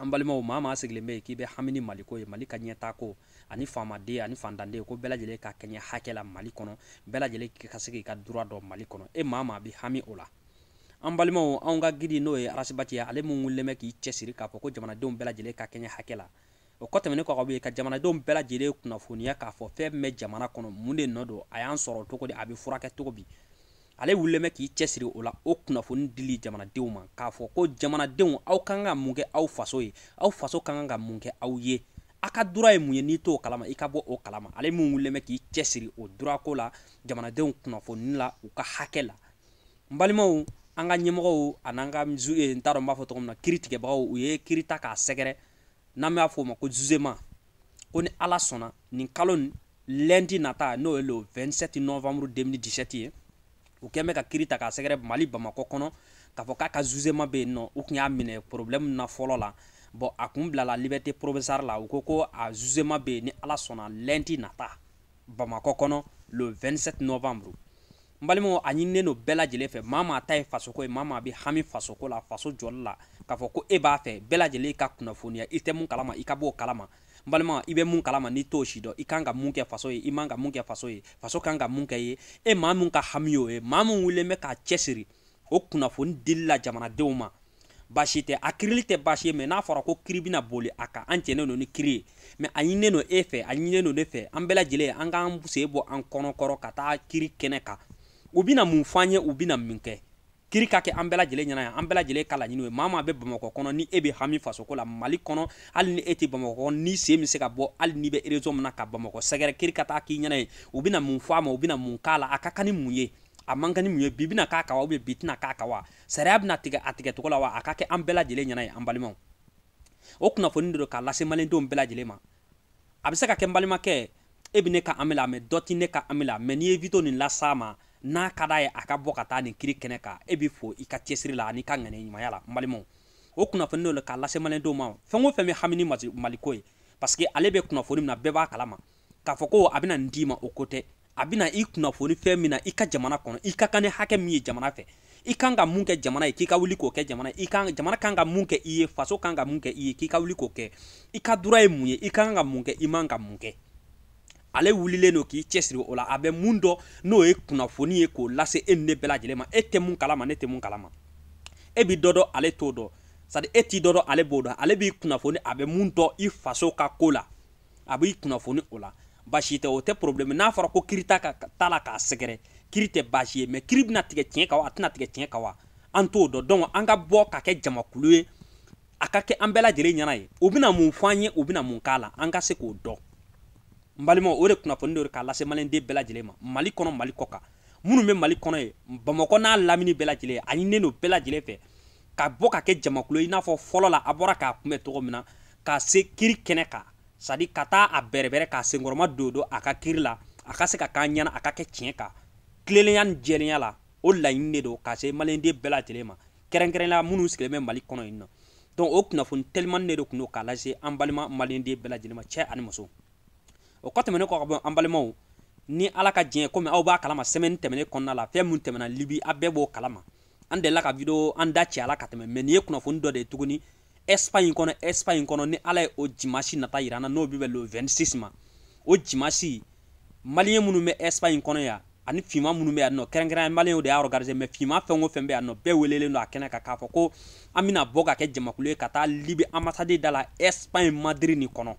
an balimaw maa maa sigilen bɛ yen k'i bɛ hami ni maliko ye mali ka ɲɛtaako ani faamaden ani fantanden ko bɛɛ lajɛlen ka kɛɲɛ hakɛ la mali kɔnɔ bɛɛ lajɛlen ka se k'i ka droit dɔn mali kɔnɔ e maa maa bɛ hami o la an balimaw anw ka guide n'o ye ras bath ye ale mun wulilen bɛ k'i cɛsiri k'a fɔ ko jamanadenw bɛɛ lajɛlen ka kɛɲɛ hakɛ la o kɔ tɛmɛnen kɔ ka bɔ yen ka jamanadenw bɛɛ lajɛlen kunnafoniya k'a fɔ fɛn min bɛ jamana kɔnɔ mun de nɔ don a y'an sɔrɔ cogo di a bɛ furakɛ cogo di ale wulilen bɛ k'i cɛsiri o la o kunnafoni dili jamanadenw ma k'a fɔ ko jamanadenw aw ka kan ka mun kɛ aw faso ye aw faso ka kan ka mun kɛ aw ye a ka droit ye mun ye n'i t'o kalama i ka bɔ o kalama ale min wulilen bɛ k'i cɛsiri o droit ko la jamanadenw kunnafoni la u ka hakɛ la n balimaw an ka ɲɛmɔgɔw an'an ka eh, n t'a dɔn n b'a fɔ tɔgɔ min na kiritigɛbagaw u ye kiri ta k'a sɛgɛrɛ n'an b'a fɔ o ma ko jugement ko ni ala sɔnna nin kalo lundi nata n'o ye le 27 novembre 2017 ye u kɛlen bɛ ka kiri ta k'a sɛgɛrɛ mali bamakɔ kɔnɔ k'a fɔ k'a ka jugement bɛ yen nɔ u kun y'a minɛ problème na fɔlɔ la bon a kun bilala liberté provisoire la u ko ko a jugement bɛ yen ni ala sɔnna lundi nata bamakɔ kɔnɔ le 27 novembre n balimaw a ɲininen don bɛɛ lajɛlen fɛ maa maa ta ye fasoko ye maa maa bɛ hami fasoko la faso jɔli la k'a fɔ ko e b'a fɛ bɛɛ lajɛlen ka kunnafoniya i tɛ mun kalama i ka b'o kalama n balima i bɛ mun kalama n'i t'o si dɔn i kan ka mun kɛ faso ye i man ka mun kɛ faso ye faso kan ka mun kɛ i ye e maa min ka hami y'o ye maa min wulilen bɛ k'a cɛsiri o kunnafoni dili la jamanadenw ma baasi tɛ a kirili tɛ baasi ye mais n'a fɔra ko kiri bɛna boli a kan an jɛnnen don ni kiri ye mais a ɲininen don e fɛ a ɲininen don ne fɛ an bɛɛ lajɛlen an k'an sen bɔ an kɔnɔ kɔrɔ ka taa kiri kɛnɛ kan u bɛna mun fɔ an ye u bɛna min kɛ kiri ka kɛ an bɛɛ lajɛlen ɲɛna yan an bɛɛ lajɛlen ka laɲini ye maa maa bɛ bamakɔ kɔnɔ ni e bɛ hami fasoko la mali kɔnɔ hali ni e tɛ bamakɔ kɔnɔ n'i sen bɛ se ka bɔ hali n'i bɛ région min na ka bamakɔ sɛgɛrɛ kiri ka taa k'i ɲɛna ye u bɛna mun fɔ a ma u bɛna mun k'a la a ka kan ni mun ye a man kan ni mun ye bi bɛna k'a kan wa bi tɛna k'a kan wa sariya bɛna tigɛ a tigɛcogo la wa a ka kɛ an bɛɛ lajɛlen ɲɛna ye an balimaw o kunnafoni de don k'a lase malidenw bɛɛ lajɛlen ma a bɛ se ka kɛ n balimakɛ e bɛ ne ka amila mɛ dɔ tɛ ne ka amila mɛ n'i ye vidéo nin las'a ma n'a ka d'a ye a ka bɔ ka taa nin kiri kɛnɛ kan e bɛ fo i ka cɛsiri la an'i ka ŋaniya ɲumanya la n balimaw o kunnafoni de don k'a lase malidenw ma fɛn o fɛn bɛ hami ni maliko ye parce que ale bɛ kunnafoni min na bɛɛ b'a kalama k'a fɔ ko a bɛna nin d'i ma o ko tɛ a bɛna i kunnafoni fɛn min na i ka jamana kɔnɔ i ka kan ni hakɛ min ye jamana fɛ i kan ka mun kɛ jamana ye k'i ka wuli k'o kɛ jamana i kan jamana kan ka mun kɛ i ye faso kan ka mun kɛ i ye k'i ka wuli k'o kɛ i ka droit ye mun ye i ka kan ka mun kɛ i man ka mun kɛ ale wulilen don k'i cɛsiri o la a bɛ mun dɔn n'o ye kunnafoni ye k'o lase e ni ne bɛɛ lajɛlen ma e tɛ mun kalama ne tɛ mun kalama e bi dɔ dɔn ale t'o dɔn c'est-à-dire e ti dɔ dɔn ale b'o dɔn ale b'i kunnafoni a bɛ mun dɔn i faso ka ko la a b'i kunnafoni o la baasi tɛ o tɛ problème n'a fɔra ko kiri t'a ka t'a la k'a sɛgɛrɛ kiri tɛ baasi ye mais kiri bɛna tigɛ tiɲɛ kan wa a tɛna tigɛ tiɲɛ kan wa an t'o dɔn donc an ka bɔ ka kɛ jamakulu ye a ka kɛ an bɛɛ lajɛlen ɲɛna ye u bɛna mun fɔ an ye u bɛna mun k'a la an ka se k'o dɔn n balimaw o de kunnafoni don de k'a lase maliyɛnden bɛɛ lajɛlen ma mali kɔnɔ mali kɔ kan minnu bɛ mali kɔnɔ yen bamakɔ n'a lamini bɛɛ lajɛlen a ɲininen don bɛɛ lajɛlen fɛ ka bɔ ka kɛ jamakulu i n'a fɔ fɔlɔ la a bɔra k'a kunbɛn cogo min na ka se kiri kɛnɛ kan sadi ka taa a bɛrɛbɛrɛ k'a senkɔrɔma dondon a ka kiri la a ka se ka k'an ɲɛna a ka kɛ tiɲɛ kan tilelenya ni jɛlenya la o laɲini de don ka se maliyɛnden bɛɛ lajɛlen ma kɛrɛnkɛrɛnnenya minnu sigilen bɛ mali kɔnɔ yen nɔ donc o kunnafoni telimani de de tun don k'a lase an balima maliyɛnden bɛɛ lajɛlen ma cɛ ani muso o kɔ tɛmɛnen kɔ ka bɔ an balimaw ni ala ka jɛn komi aw b'a kalama sɛmɛni tɛmɛnen kɔnɔna la fɛn min tɛmɛna libi a bɛɛ b'o kalama an delila ka video an da cɛ a la ka tɛmɛ mais nin ye kunnafoni dɔ de ye tuguni espagne kɔnɔ espagne kɔnɔ ni ala ye o jimasi nata yira an na n'o bi bɛn le 26 ma o jimasi maliyɛn minnu bɛ espagne kɔnɔ yan ani finma minnu bɛ yan nɔ kɛrɛnkɛrɛn maliyɛnw de y'a organiser mais finma fɛn o fɛn bɛ yan nɔ bɛɛ welelen don a kɛnɛ kan k'a fɔ ko an bɛna bɔ ka kɛ jamakulu ye ka taa libi ambassade da la espagne madrid nin kɔnɔ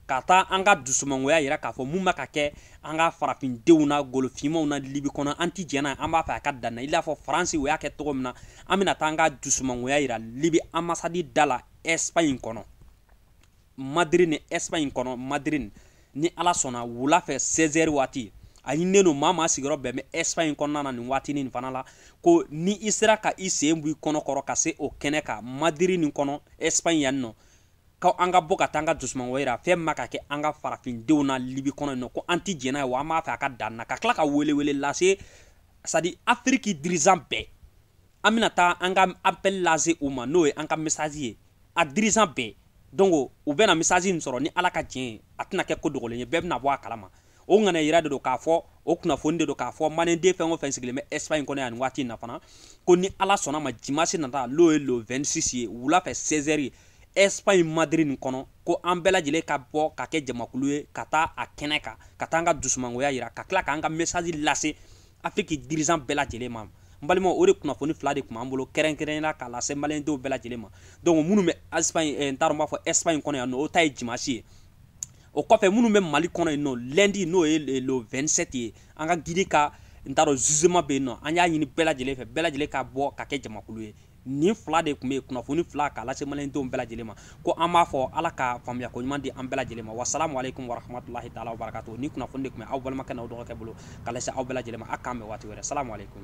ka taa an ka dusumangoya yira k'a fɔ mun bɛ ka kɛ an ka farafindenw na golofinmaw na libi kɔnɔ an ti jɛn'a an b'a fɛ a ka dan na i n'a fɔ faransi u y'a kɛ cogo min na an bɛna taa an ka dusumangoya yira libi anbasadi da la ɛsipaɲi kɔnɔ madiri nin ɛsipaɲi kɔnɔ madiri ni ala sɔnna wula fɛ 16 heures waati a ɲininen don maa maa sigiyɔrɔ bɛ min ɛsipaɲi kɔnɔna na nin waati nin fana la ko ni i sera ka i sen bɔ i kɔnɔ kɔrɔ ka se o kɛnɛ kan madiri nin kɔnɔ ɛsipaɲi yan nɔ ko an ka bɔ ka taa an ka dusumangoya yira fɛn min bɛ ka kɛ an ka farafindenw na libi kɔnɔ yen nɔ ko an ti jɛn'a ye wa an b'a fɛ a ka dan na ka tila ka welewele lase sadi afiriki dirizan bɛɛ an bɛna taa an ka apɛli lase u ma n'o ye an ka mesazi ye a dirizan bɛɛ donc u bɛna mesazi in sɔrɔ ni ala ka jɛn ye a tɛna kɛ ko dogolen ye bɛɛ bɛna bɔ a kalama o ŋaniya yira de don k'a fɔ o kunnafoni de don k'a fɔ maliyɛnden fɛn o fɛn sigilen bɛ espagne kɔnɔ yan nin waati in na fana ko ni ala sɔnna a ma dimasi nata n'o ye le 26 ye wula fɛ 16 heures espagne madrid nin kɔnɔ ko an bɛɛ lajɛlen ka bɔ ka kɛ jamakulu ye ka taa a kɛnɛ kan ka taa an ka dusumangoya yira ka tila k'an ka mesaji lase afiriki dirizan bɛɛ lajɛlen ma n balimaw o de kunnafoni fila de tun b'an bolo kɛrɛnkɛrɛnya la k'a lase maliyɛndenw bɛɛ lajɛlen ma donc minnu bɛ espagne eh, n t'a dɔn n b'a fɔ espagne kɔnɔ yan nɔ o ta ye dimasi ye o kɔfɛ minnu bɛ mali kɔnɔ yen nɔ lɛndi n'o ye le 27 ye an ka gidi ka n t'a dɔn zuzeman bɛ yen nɔ an y'a ɲini bɛɛ lajɛlen fɛ bɛɛ lajɛlen ka bɔ ka kɛ jamakulu ye nin fila de tun bɛ yen kunnafoni fila k'a lase maliyɛndenw bɛɛ lajɛlen ma ko an b'a fɔ ala ka faamuya ko ɲuman di an bɛɛ lajɛlen ma wasalamu aleykum warahmatulahi taala wa barakatu nin kunnafoni de tun bɛ aw balimakɛ n'aw dɔgɔkɛ bolo k'a lase aw bɛɛ lajɛlen ma a k'an bɛn waati wɛrɛ salamu aleykum